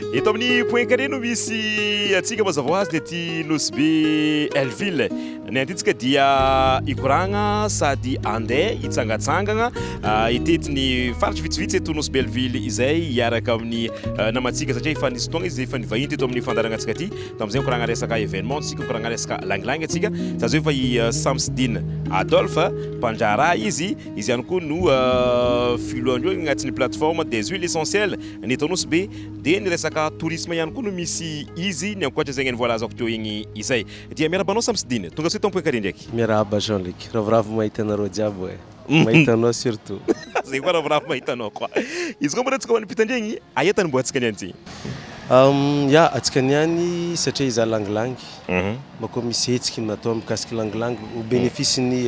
Eto amin'ny point carré no misy antsika mazava ho azy dia ity Nosy-be Elville. Ny antintsika dia hikoragna sady handeha hitsangatsangagna ah, hitety ny faritry vitsivitsy eto Nosy-be Elville izay hiaraka amin'ny ah, namantsika satria efa nisy fotoagna izy efa nivahiny teto amin'ny fandaharanatsika ity. Tamin'izay nikoragna resaka événement tsika, nikoragna resaka langilangy antsika. Za zao efa i ah, Samsidine Adolphe, mpandraharaha izy. Izy ihany koa no ah, filohan'ireo agnatin'ny plateforme des huiles essentielles. Ny eto Anosibe dia ny resaka tourisme ihany koa no misy izy, ny ankoatra izay ny voalazako teo igny izay. Dia miarahaba anao Samsidine, tonga soa eto Ampohinkary ndraiky. Miarahaba Jean Luc, ravoravo mahita anareo jiaby oe, mahita anao surtout. Zay koa ravoravo mahita anao koa. Izy koa moa re antsika ho an'ny mpitandria igny, aia tany mbô antsika niany ty? Ya, antsika niany satria izaho langilangy, mbô koa misy hetsiky natao mikasiky langilangy au bénéfice ny.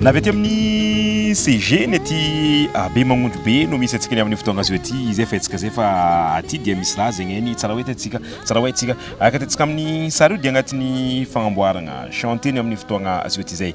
Na avy aty amin'ny CG ny aty Bemanondro be no misy antsika ny amin'ny fotoagna azo aty izay fahitsika izay fa aty dia misy laza egny ny tsara ho hitantsika tsara ho haintsika araka ny hitantsika amin'ny sary io dia agnatin'ny fagnamboaragna chantier ny amin'ny fotoagna azo aty izay.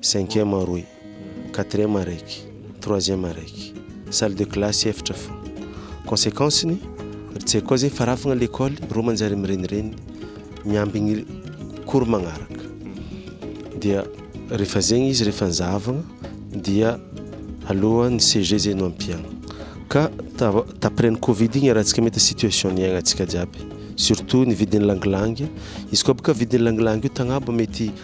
Cinquième roy, quatrième araiky, troisième araiky, salle de classe efitra fôgna. Conséquence-ny, ry tsy haiko koa zegny fa raha fôgna lekôly rô manjary mirenireny miambigny cours magnaraka. Dia rehefa zegny izy rehefa nizahavagna dia alohan'ny CEG zay no ampiagna. Ka ta- t'après ny covid igny iarahantsika mahita situation niaignantsika jiaby surtout ny vidin'ny langilangy, izy koa bôka vidin'ny langilangy io tagnabo mety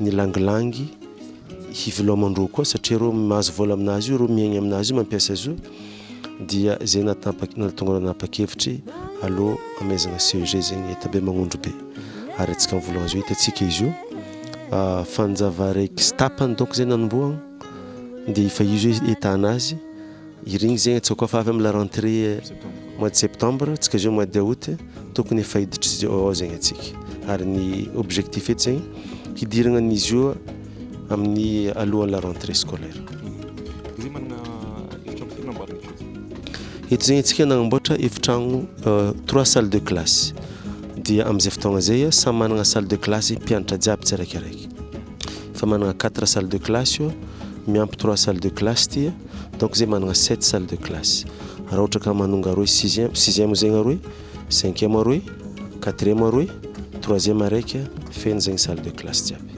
ny langilangy hiviloman-droa koa satria ireo mahazo vola amin'azy io ireo miaigny amin'azy io mampiasa azy io dia izay natampak nahatonga anao nanapa-kevitry aleo hamaizana CEG zegny hita be magnondro be ary antsika amin'ny vola-gna zao hitantsika izy io ah, fanjava raiky sy tapany donc zay nanombohagna dia efa izy hoe hita an'azy Irigny zegny atsoa koa fa avy amin'ny la rentrée mois de septembre tsika zao mois de aout tokony efa hiditra zao ao zegny atsika ary ny objectif eto zegny hidiragna an'izy io amin'ny alohan'ny la rentrée scolaire. Eto zegny atsika nagnamboatra efitragno euh, trois salles de classe dia amin'izay fotoagna zay samy managna salle de classe mpianatra jiaby tsiraikiraiky fa managna quatre salles de classe io miampy trois salles de classe ity donc zay managna sept salle de classe raha ohatra ka manonga aroe sixième sixième zegny aroe cinquième aroe quatrième aroe troisième araiky feno zegny salle de classe jiaby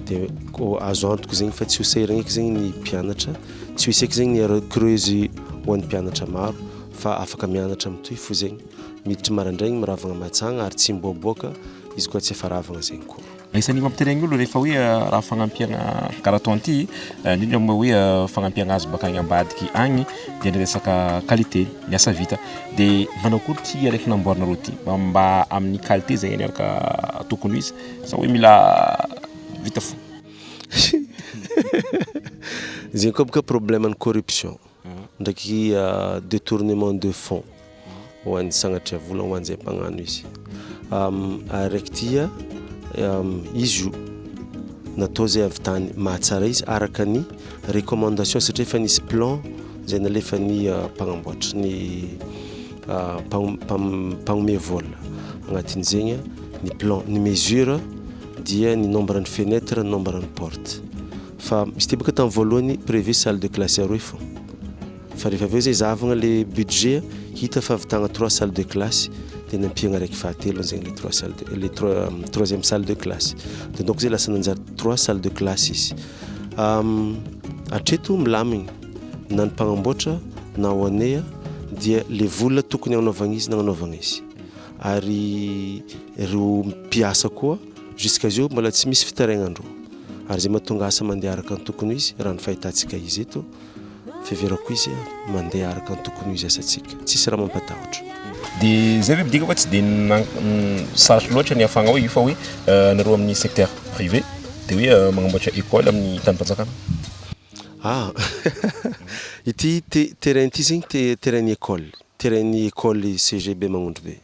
de ko azo antoko zegny fa tsy ho sahiragna eky zegny ny mpianatra tsy ho hisy eky zegny ny erreur creuse ho an'ny mpianatra maro fa afaka mianatra mitohy fo zegny miditry marandraigny miravagna matsagna ary tsy miboaboaka izy koa tsy efa ravagna zegny koa Isan'ny mampiterena ny olona rehefa hoe raha fagnampiana karaha toan'ity, indrindra moa hoe fagnampiana azy bakany ambadiky agny dia ny resaka qualité ny asa vita. Dia manao akory ity araiky namboarinareo ity mba amin'ny qualité zay anie ka tokony ho izy sa hoe mila vita fo. Zegny koa bôka problème ny corruption. ndraiky detournement de fond ho an'ny sagnatria vola ho an'izay mpagnano izy araiky tia izy io natao zay avy tany mahatsara izy araka ny recommandation satria efa nisy plan zay nalefa ny euh, mpagnamboatra ny euh, mpagnome vola agnatin'izegny ny plan ny mesure dia ny nombre ny fenêtre ny nombre ny porte Fa c'était bôka tamin'ny voalohany prévu salle de classe aroe fô. Fa rehefa avy eo zay zahavagna le budget hita fa avitagna trois salle de classe de nampiagna araiky fahatelony zegny le trois salle de le trois troisième salle de classe. De donc zay lasa nanjary trois salle de classe izy. Hatreto milamigny na ny mpagnamboatra na ho anay a dia le vola tokony hagnanaovagna izy nagnanaovagna izy. Ary reo mpiasa koa. Jusqu'à zeo mbola tsy misy fitaraignan-dro ary zay mahatonga asa mandeha araka ny tokony ho izy raha ny fahitantsika izy eto fiheverako izy a mandeha araka ny tokony ho izy asantsika tsisy raha mampatahotra. Dia zay ve midika fa tsy dia sarotro loatra ny hahafahana hoe io fa hoe anareo amin'ny secteur privé dia hoe magnamboatra école amin'ny tanim-panjakana? Ah! ity terrain ity zegny terrain-n'ny école, terrain-n'ny école CEG Bemanondrobe.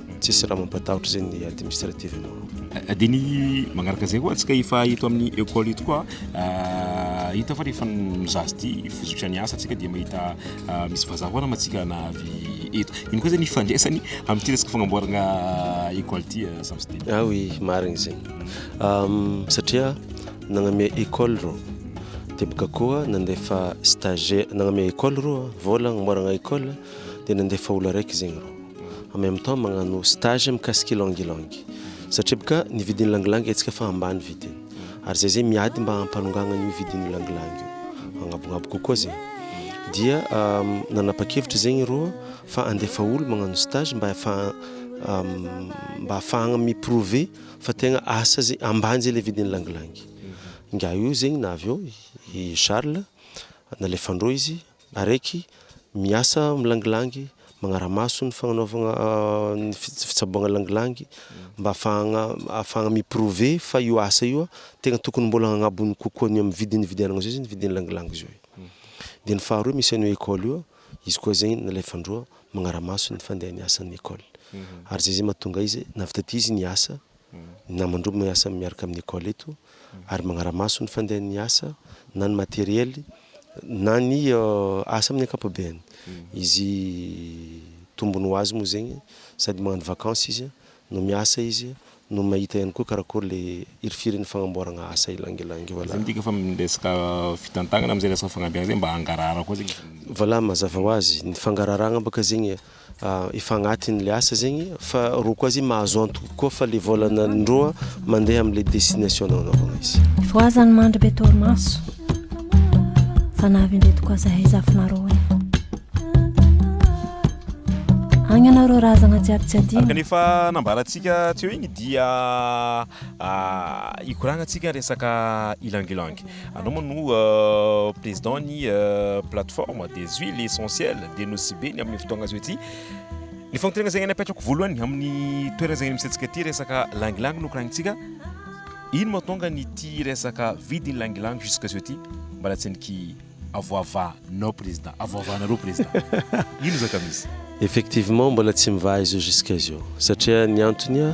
tsisy raha mampatahotra izay ny administrative nao. Eh, dia ny magnaraka izay koa antsika efa eto amin'ny école eto koa eh, hita fa rehefa mizaha azy ity fizotra ny asa antsika dia mahita eh, misy vazaha koa nama antsika na avy eto iny koa izany ifandraisany amin'ity resaka fagnamboarana école ity samsidi ah oui marigny izay ehm, satria nagname école reo dia boka koa nandefa stagiaire nagname école reo vola agnamboarana école dia nandefa olo araiky zegny reo en même temps magnano stage mikasika ylang ylang satria boka ny vidin'ny langilangy haintsika fa ambany vidiny ary zay zay miady mba hampanongagna an'io vidin'ny langilangy io agnabognabo kokoa zay dia nanapa-kevitra zegny reo fa andefa olo magnano stage mba efa mba afahagna mi-prouver fa tegna asa zay ambany zay le vidin'ny langilangy ingahy io zegny na avy eo i Charles nalefandreo izy Araiky, miasa milangilangy, magnara-maso ny fagnanaovagna ny fitsaboagna langilangy mba ahafahagna ahafahagna mi-prouver fa io asa io tegna tokony mbôla hagnabony kokoa ny amin'ny vidiny nividianagna zao izy ny vidin'ny langilangy zao e. De ny faharoe misy an'io école io, izy koa zay nalefan-droa magnara-maso ny fandehan'ny asan'ny école ary zay zay mahatonga izy nahavita ty izy niasa ny namandroa miasa miaraka amin'ny école eto ary magnaramaso ny fandehan'ny asa na ny matériel na ny asa amin'ny ankapobeny. Izy tombony ho azy moa zegny sady magnano vacance izy no miasa izy no mahita ihany koa karakory le hirifiry ny fagnamboaragna asa ilangilangy io. Zany midika fa amin'ny resaka fitantagnana amizay resaka fagnabeazay mba hangarahara koa zegny izy. Voila mazava ho azy ny fangararagna baka zegny. efa agnatiny le asa zegny fa roko azy mahazo antoky koa fa le vola nandroa mandeha amle destination nao navona izy voazany mandry be torimaso fa navindreto koa zahay zafinareo e agny anareo razagna jiaby tsy adino kanefa nambarantsika tsy eo igny dia ah, ikoragna antsika resaka ilangilangy Anao moa no président ny plateforme des huiles essentielles dia nosy be ny amin'ny fotoagna azo ety. Ny fanontaniana zegny napetrako voalohany amin'ny toerana zegny misy antsika ity resaka langilangy no koragnintsika. Ino mahatonga an'ity resaka vidin'ny langilangy jusque zao ity mbala tsy niky avoavanao président avoavanareo président ino zaka misy? Effectivement mbola tsy mivaha izy io jusque zao satria ny antony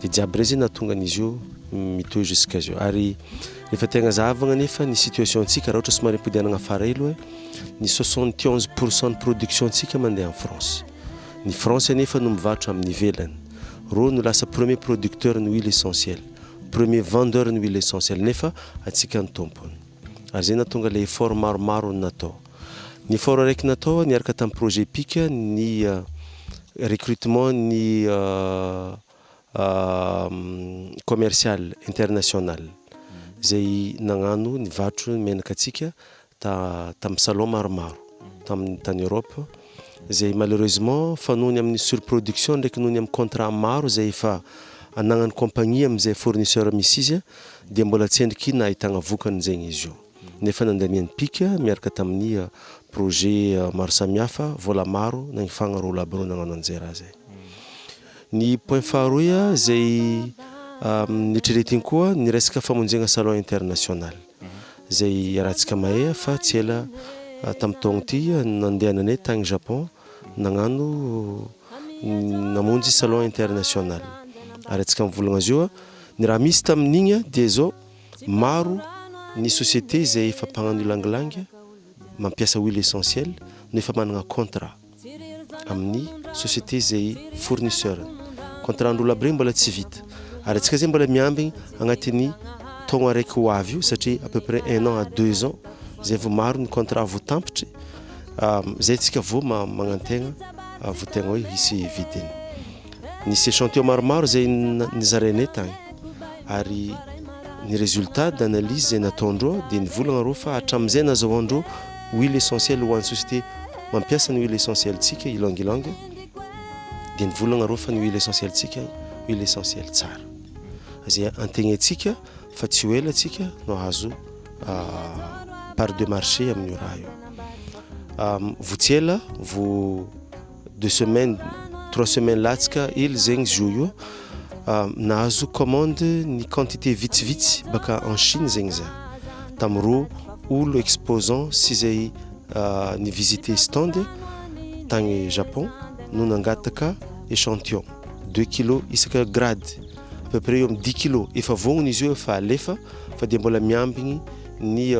Dia jiaby rey zay nahatonga an'izy io mitohy jusqu'à zao. Ary rehefa tegna zahavagna nefa ny situation antsika raha ohatra somary ampidehanagna afara elo eh, ny soixante et onze pour cent ny production antsika mandeha any France. Ny France anefa no mivarotra amin'ny ivelany. Reo no lasa premier producteur ny huile essentiel, premier vendeur ny huile essentiel nefa antsika ny tompony. Ary zay nahatonga le effort maromaro natao. Ny fahorareky natao, niaraka tamin'ny projet pic, ny recrutement ny commercial international izay nagnano nivarotra ny menaka antsika tamin'ny salon maromaro tamin'ny tany Europe izay malheureusement fa noho ny amin'ny surproduction ndraiky noho ny amin'ny contrat maro izay efa anagnan'ny compagnie amin'izay fournisseur misy izy dia mbola tsy endriky nahitagna vokany zegny izy io. nefa nandaniany pika miaraka tamin'ny projet maro samihafa, vola maro na ny fagna roa lahy be no nagnano anjera azy. Ny point faharoy izay neritreretiny koa ny resaka famonjegna salon international izay iarahantsika mahay fa tsy ela tamin'ny taogno ty nandehananay tagny Japon nagnano namonjy salon international ary antsika mivolagna azy io ny raha misy tamin'igny dia zao Maro ny société izay efa mpagnano ylang-ylang mampiasa huile essentiel no efa managna contrat amin'ny société izay fournisseur-ny. Contrat andro labré mbola tsy vita ary antsika izay mbola miambigny agnatin'ny taogno araiky ho avy io satria à peu près un an à deux ans izay vao maro ny contrat vao tampitry izay antsika vao magnantegna vao tegna hoe hisy vidiny. Nisy échantillon maromaro izay nizarainay tany ary ny résultat d'analyse izay nataondreo dia nivolagna reo fa hatramin'izay nazahoandreo huile essentielle ho an'ny société mampiasa ny huile essentielle-tsika Ylang Ylang dia nivolagna reo fa ny huile essentielle-tsika huile essentielle tsara izay antegnaintsika fa tsy ho ela antsika no hahazo part de marché amin'io raha io. Vao tsy ela vao deux semaines trois semaines latsaka hely zegny zio io nahazo commande ny quantité vitsivitsy baka en Chine zegny za tamin'ireo olo exposant sy zay ny visiter stand tagny Japon no nangataka echantillon deux kilos isaka grade à peu près eo amin'ny dix kilos efa vognona izy io efa alefa fa dia mbola miambigny ny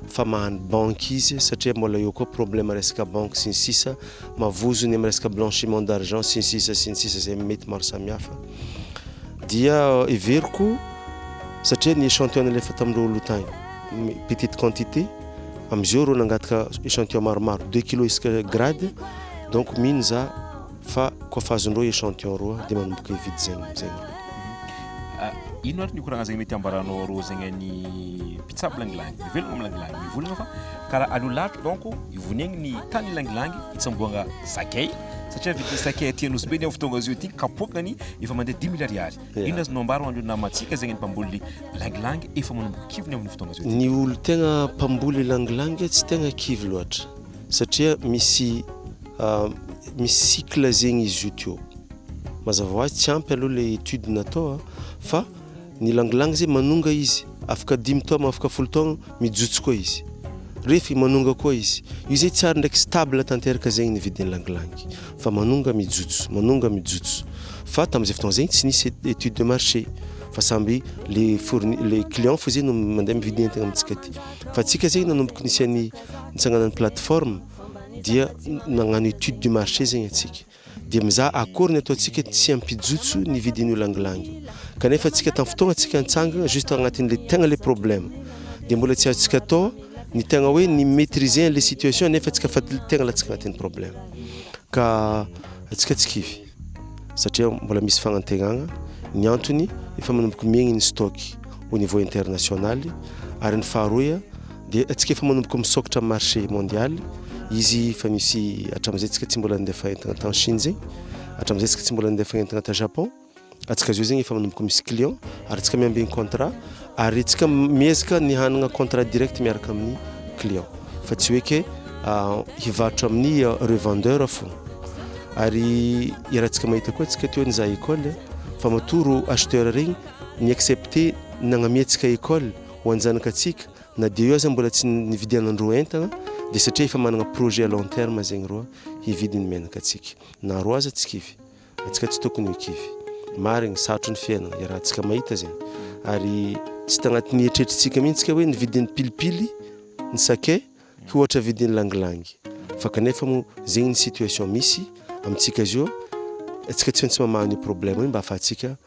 fa mahany banky izy satria mbola eo koa problème resaka banky sy ny sisa mavozony amin'ny resaka blanchiment d'argent sy ny sisa sy ny sisa izay mety maro samihafa dia heveriko satria ny échantillon nalefa tamin'ireo oloha tany petite quantité amin'izao ireo nangataka échantillon maromaro deux kilos isaka grade donc mino za Fa koa fa azon'ireo echantillon roa dia manomboka hividy zegny amin'izay ny roa. Ino ary ny koragna zegny mety hambaranao arô zegny an'ny mpitsabo langilangy mivelogno amin'ny langilangy mivolagna fa karaha aleo lavitra donc ivoniagny ny tany langilangy itsamboagna sakay satria vidin'ny sakay aty Anosy be ny amin'izao fotoagna izao ty kapoakany efa mandeha dimy mille ariary, inona azonao ambara ho an'ireo namantsika zegny ny mpamboly langilangy efa manomboka kivony amin'io fotoagna izao ty? Ny olo tegna mpamboly langilangy tsy tegna kivy loatra satria misy ah, misy cycle zegny izy io teo mazava ho azy tsy ampy aloha le étude natao ah, fa ny langilangy zay manonga izy afaka dimy taogna afaka folo taogna mijotso koa izy refy manonga koa izy io zay tsy ary ndraiky stable tanteraka zegny ny vidin'ny langilangy fa manonga mijotso manonga mijotso fa tamin'izay fotoagna zegny tsy nisy étude de marché fa samby le fourni le client fo zay no mandeha mividy entagna amintsika ty fa tsika zegny nanomboka nisy an'ny nitsanganan'ny plateforme dia nagnano étude du marché zegny atsika dia mizaha akory ny ataontsika tsy hampijotso ny vidin'io langilangy io kanefa atsika tamin'ny fotoagna atsika nitsangagna juste agnatin'le tegna le problème dia mbola tsy azontsika atao ny tegna hoe ny maitriser an'le situation nefa atsika fa tegna latsaka agnatin'ny problème ka atsika tsy kivy satria mbola misy fagnantegnagna, ny antony efa manomboka miegny ny stock au niveau international, ary ny faharoa dia antsika efa manomboka misôkatra amin'ny marché mondial, izy efa misy hatramin'izay tsika tsy mbola nandefa entagna tany Chine zegny, hatramin'izay tsika tsy mbola nandefa entagna tany Japon, antsika zao zegny efa manomboka misy client ary antsika miambigny contrat. Ary tsika miezaka ny hanagna contrat direct miaraka amin'ny client fa tsy hoe ke hivarotra amin'ny revendeur fogna. Ary iarahantsika mahita koa tsika teo nizaha école fa matoa ro acheteur regny ni accepter nagnamiantsika école ho an-janakatsika na dia eo aza mbola tsy nividianandreo entagna dia satria efa managna projet à long terme zegny reo hividy ny menaka antsika na reo aza tsy kivy. Antsika tsy tokony ho kivy. Marigny, sarotry ny fiainana iarahantsika mahita zegny ary tsy tagnatin'ny eritreritrintsika mihitsy ka hoe ny vidin'ny pilipily, ny sakay ho ohatra vidin'ny langilangy fa kanefa moa zegny ny situation misy amintsika zio, antsika tsy maintsy mamaha an'io problème io mba afahantsika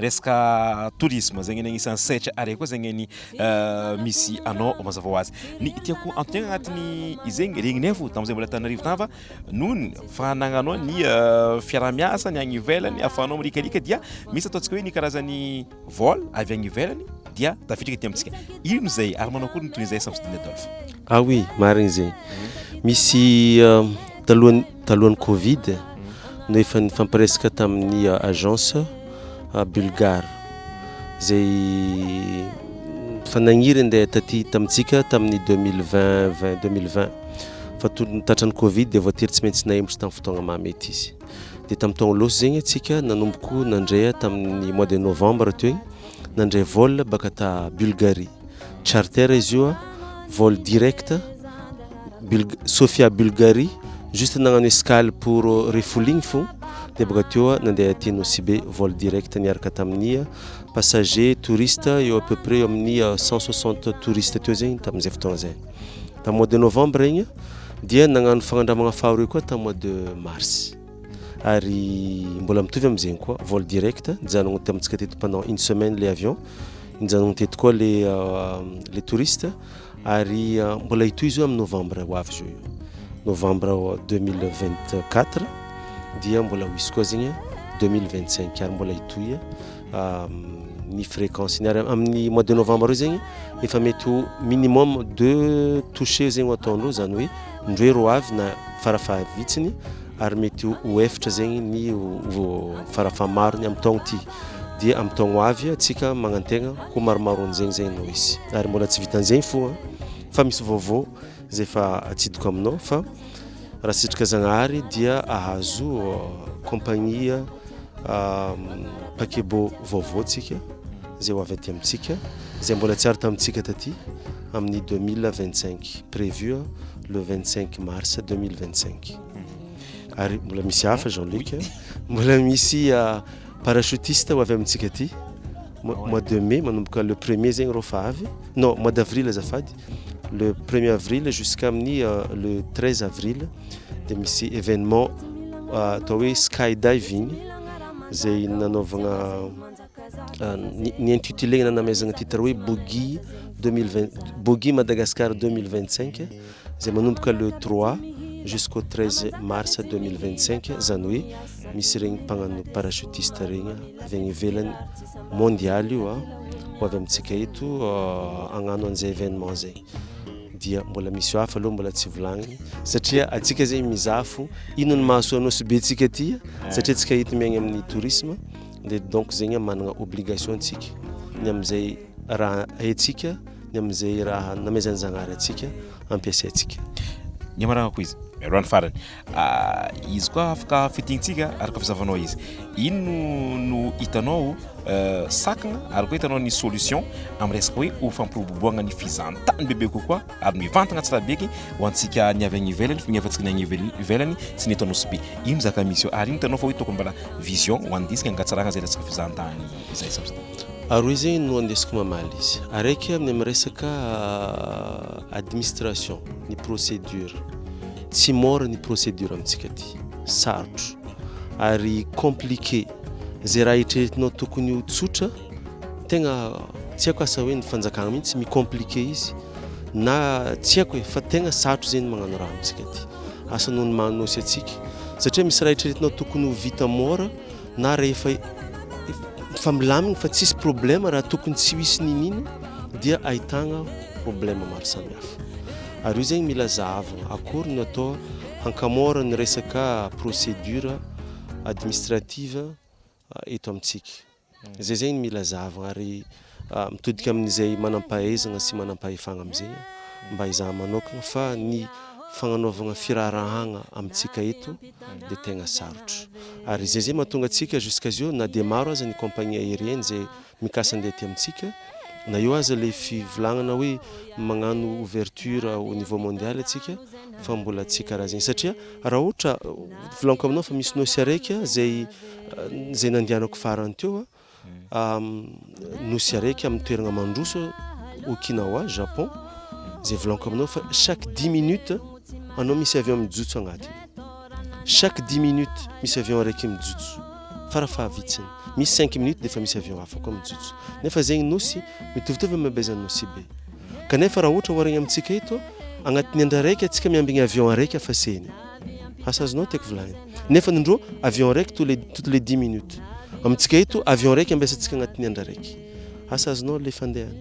Resaka tourisme zegny anie agnisan'ny sehatra ary koa zegny ny misy anao mazava ho azy. Ny tiako antontena agnatin'ny izegny regninay fo tamin'izay mbola Antananarivo tava nony fa nagnanao ny fiaraha-miasa ny agny ivelany ahafahanao marikarika dia misy ataontsika hoe ny karazan'ny vol avy agny ivelany dia tafiditra aty amintsika. Ino izay ary manao akory ny tohiny izay Samsidina Adolphe? Ah oui, marigny zegny. Misy talohan'ny. Talohan'ny Covid no efa nifampiresaka tamin'ny agence Bulgare izay efa nagniry handeha taty tamintsika tamin'ny 2020 20 2020 fa toy ny tratran'ny Covid dia voatery tsy maintsy nahemotra tamin'ny fotoagna maha mety izy. Dia tamin'ny taogno lôsy zegny antsika nanomboko nandrea tamin'ny mois de novembre teo igny nandray vol baka ta Bulgarie. Charter izy io, vol direct, Sofia Bulgarie, juste nagnano escale pour refueling fo, dia bôka teo nandeha aty Nosy-Be, vol direct, niaraka tamin'ny passagers, touristes, eo à peu près eo amin'ny cent soixante touristes teo zegny tamin'izay fotoagna zay. Tamin'ny mois de novembre igny dia nagnano fagnandramagna faharoe koa tamin'ny mois de mars. ary mbola mitovy amin'izegny koa vol direct nijanogno tamintsika teto pendant une semaine le avion nijanogno teto koa le euh, le touriste ary euh, mbola hitohy izy io amin'ny novembre ho avy zao io novembre 2024 dia mbola ho hisy koa zegny 2025 ary mbola hitohy euh, ny fréquence ny ary amin'ny mois de novembre io zegny efa mety ho minimum deux touché zegny ho ataon'ireo zany hoe Indroa ro avy na farafahavitsiny ary mety ho efitra zegny ny farafahamarony amin'ny taogno ty dia amin'ny taogno avy antsika magnantegna ho maromaron'izegny zegny no hisy ary mbola tsy vitan'izegny fo an fa misy vaovao zay efa atsidiko aminao fa raha sitraka Zagnahary dia ahazo compagnie paquebot vaovao tsika zay ho avy aty amintsika zay mbola tsy ary tamintsika taty amin'ny deux mille vingt cinq prévu le vingt cinq mars deux mille vingt cinq mhm. ary mbola misy hafa Jean Luc mbola misy euh, parachutiste ho avy amintsika aty mois de mai manomboka le premier zegny reo fa avy non mois d'avril azafady le premier avril jusqu'amin'ny euh, le treize avril dia misy événement euh, atao hoe sky diving zay nanaovagna ny intitulé nanameazana titre hoe Bogi 2020 Bogi Madagascar 2025 izay manomboka le 3 jusqu'au 13 mars 2025 izany hoe misy regny mpagnano parachutiste regny avy any ivelany mondial io a ah. ho avy amintsika eto euh, agnano an'izay événement zay dia mbola misy hafa aloha mbola tsy volagniny satria atsika zay mizafo inony mahasoa anao sy be tsika ty satria tsika hety miaigny amin'ny tourisme dia donc zegny managna obligation antsika ny amin'izay raha haintsika ny amin'izay raha namezan'ny Zagnahary antsika ampiasaintsika. Ny amarako izy mialoha ny farany ah, izy koa afaka fitintsika araka fizavanao izy ino no hitanao eh, sakana ary koa hitanao ny solution amin'ny resaka hoe ho fampiroboroboagna ny fizahantany bebe kokoa ary mivantana Antsirabeky ho antsika ny avy any ivelany fa ny hafantsika ny any ivelany tsy ny eto Anosibe iny zaka misy eo ary iny hitanao fa hoe tokony mbola vision ho an'ny disque hangatsarana izay resaka fizahantany izay sy ny sisa. Ary hoe izay no andesiko mamaly izy araiky amin'ny amin'ny resaka administration ny procédure tsy mora ny procédure amintsika aty sarotro ary compliqué izay raha eritreretinao tokony ho tsotra Tegna tsy haiko asa hoe ny fanjakagna mihitsy mi-compliquer izy na tsy haiko e, fa tegna sarotro zegny magnano raha amintsika ty asa noho ny maha nosy antsika satria misy raha eritreretinao tokony ho vita môra na rehefa fa milamigny fa tsisy problema raha tokony tsy hoisy ninino dia ahitagna problema maro samihafa ary io zegny mila zahavagna akory no atao hankamôra ny resaka procédure administrative eto amintsika. Izay izay no mila zahavina ary mitodika amin'izay manam-pahaizana sy manam-pahefana amin'izay mba hizaha manokana fa ny fagnanaovana firaharahagna amintsika eto dia tegna sarotra. Ary izay izay mahatonga antsika jusqu'à zio na dia maro aza ny compagnie aérienne izay mikasa andeha aty amintsika na eo aza le fivolagnana hoe magnano ouverture au niveau mondial atsika fa mbola tsy karaha zegny satria raha ohatra volaniko aminao fa misy nosy araiky zay zay nandianako farany teo a nosy araiky amin'ny toeragna mandroso okinawa japon zay volaniko aminao fa chaque dix minutes anao misy avion mijotso agnatiny Chaque dix minutes misy avion araiky mijotso fara fahavitsiny, misy cinq minutes dia efa misy avion hafa koa mijotso. Nefa zegny nosy mitovitovy amin'ny habezan'ny Nosibe. Kanefa raha ohatra oharigny amintsika eto, agnatin'ny andro araiky antsika miambigny avion araiky hafa sehny. Asa azonao tiako volagny. Nefa ny ndrô avion araiky tous les toutes les dix minutes. Amintsika eto avion araiky ambesantsika agnatin'ny andro araiky. asa azonao le fandehany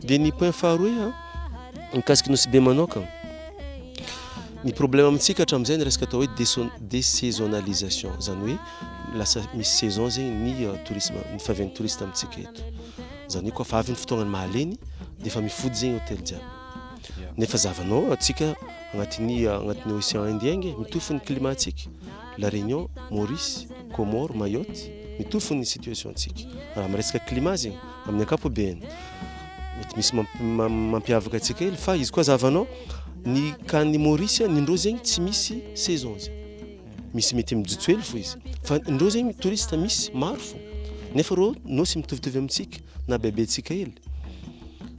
dia ny point faharoe a mikasiky nosy be manoka ny problème amintsika hatramin'izay ny resaka atao hoe désaisonnalisation zany hoe lasa misy saison zegny ny euh, tourisme ny favian'ny touriste amintsika eto zany hoe koa fa avy ny fotoagnany mahaleny dia efa mifody zegny hôtel jiaby nefa zavanao atsika agnatin'ny agnatin'ny océan indien nge mitofo ny climat atsika La Réunion, Maurice, Comores, Mayotte, mitovy fony ny situation antsika. Raha miresaka climat zegny, amin'ny ankapobeny, mety misy mampiavaka antsika kely, fa izy koa aza havanao, ny kany Maurice, ny ndreo zegny tsy misy saison zegny. Misy mety mijotso hely fo izy. Fa ndreo zegny touriste misy, maro fo. Nefa reo nosy mitovitovy amintsika, na bebe antsika hely.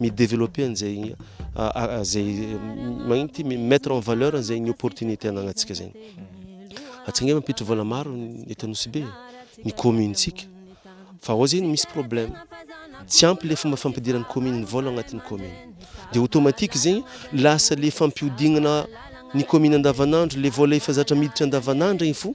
mi-developper an'izay izay magnino ity mi-mettre en valeur an'izay ny opportunité anagnantsika zay. Antsika nge mampiditra vola maro eto Anosibe, ny commune-tsika. Fa ao zegny misy problème. Tsy ampy le fomba fampidiran'ny commune ny vola agnatin'ny commune. Dia automatique zegny lasa le fampiodignana ny commune andavanandro le vola efa zatra miditra andavanandro igny fo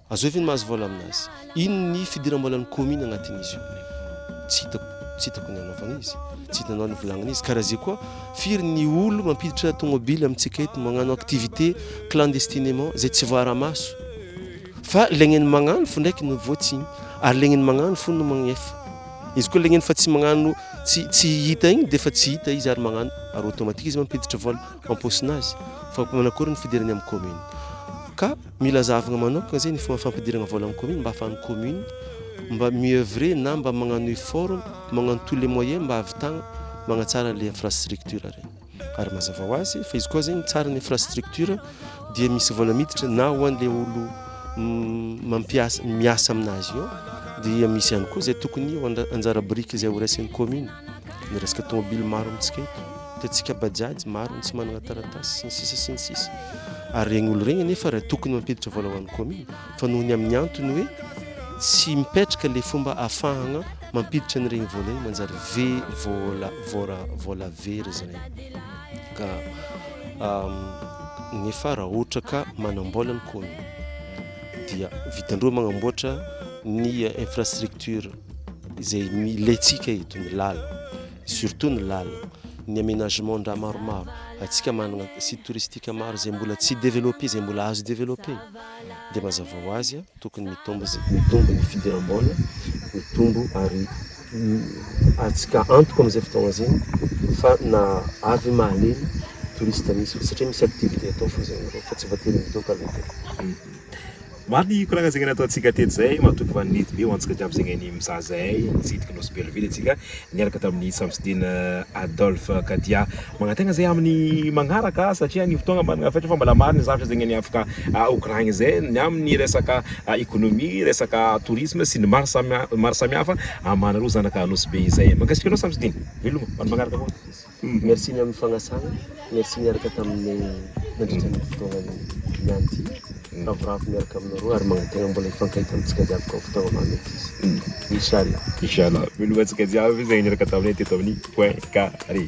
Azoi ve ny mahazo vola amin'azy? Inn ny fidiram-bolan'ny commune agnatin'izy io? Tsy hitako, tsy hitako ny anaovany izy, tsy hitanao ny volagniny izy. Karaha zay koa, firy ny olo mampiditra tomobile amintsika eto, magnano activité clandestinement, zay tsy voaara-maso. Fa legnen'ny magnano fo ndraiky no voatsigny, ary legnen'ny magnano fo no magnefa. Izy koa legneny fa tsy magnano, tsy, tsy hita igny dia fa tsy hita izy ary magnano, ary automatique izy mampiditra vola am-paosinazy. Fa manakory ny fidirany amin'ny commune? Ka. Mila zahavina manokana izay ny fomba fampidirana vola amin'ny commune mba ahafahan'ny commune mba mi-oeuvrer na mba magnano effort magnano tous les moyens mba ahavitagna magnatsara ilay infrastructure ireny. Ary mazava ho azy fa izy koa zegny tsara ny infrastructure dia misy vola miditra na ho an'ilay olo mampiasa miasa aminazy eo dia misy ihany koa izay tokony anjara biriky izay ho raisin'ny commune. ny resaka tomobily maro amintsika eto tetsika bajaj maro ny tsy manana taratasy sy ny sisa sy ny sisa ary regny olo regny anefa raha tokony mampiditra vola ho an'ny commune fa noho ny amin'ny antony hoe tsy mipetraka le fomba afahagna mampiditra ny regny vola igny manjary ve vola vola vola very zany ka nefa raha ohatra ka manambola ny commune dia vitandreo magnamboatra ny infrastructure izay milentsika eto ny lala surtout ny lala ny aménagement ndra maromaro atsika manana site touristique maro izay mbola tsy développé izay mbola azo développé dia mazava ho azy tokony mitombo mitombo ny fidiram-bola mitombo ary atsika antoka amin'izay fotoagna zay fa na avy mahaleny touriste misy fa satria misy activité atao fo zay fa tsy voatery midoka aloha Maro ny koragna zegny nataontsika teto zay matoky fa nety be ho antsika jiaby zegny ny mizaha zahay nitsidika Nosy Belleville antsika niaraka tamin'ny Samsidina Adolphe Kadia. Magnantena zay amin'ny magnaraka satria ny fotoagna managna fetra fa mbola maro ny zavatra zegny ny afaka hokoragny zay ny amin'ny resaka économie, resaka tourisme sy ny maro samy maro samihafa amanareo zanaka Nosy Be izay. Mankasitraka anao Samsidina, veloma ho an'ny magnaraka koa. Merci ny amin'ny fagnasana, merci niaraka tamin'ny nandritra ny fotoana niany ity, ravoravo miaraka aminareo ary magnategna mbola hifankahita amintsika jiaby koa fotoagna maha mety izy. Inch'Allah. Inch'Allah. Miloha antsika jiaby zay niaraka taminay teto amin'ny point carré.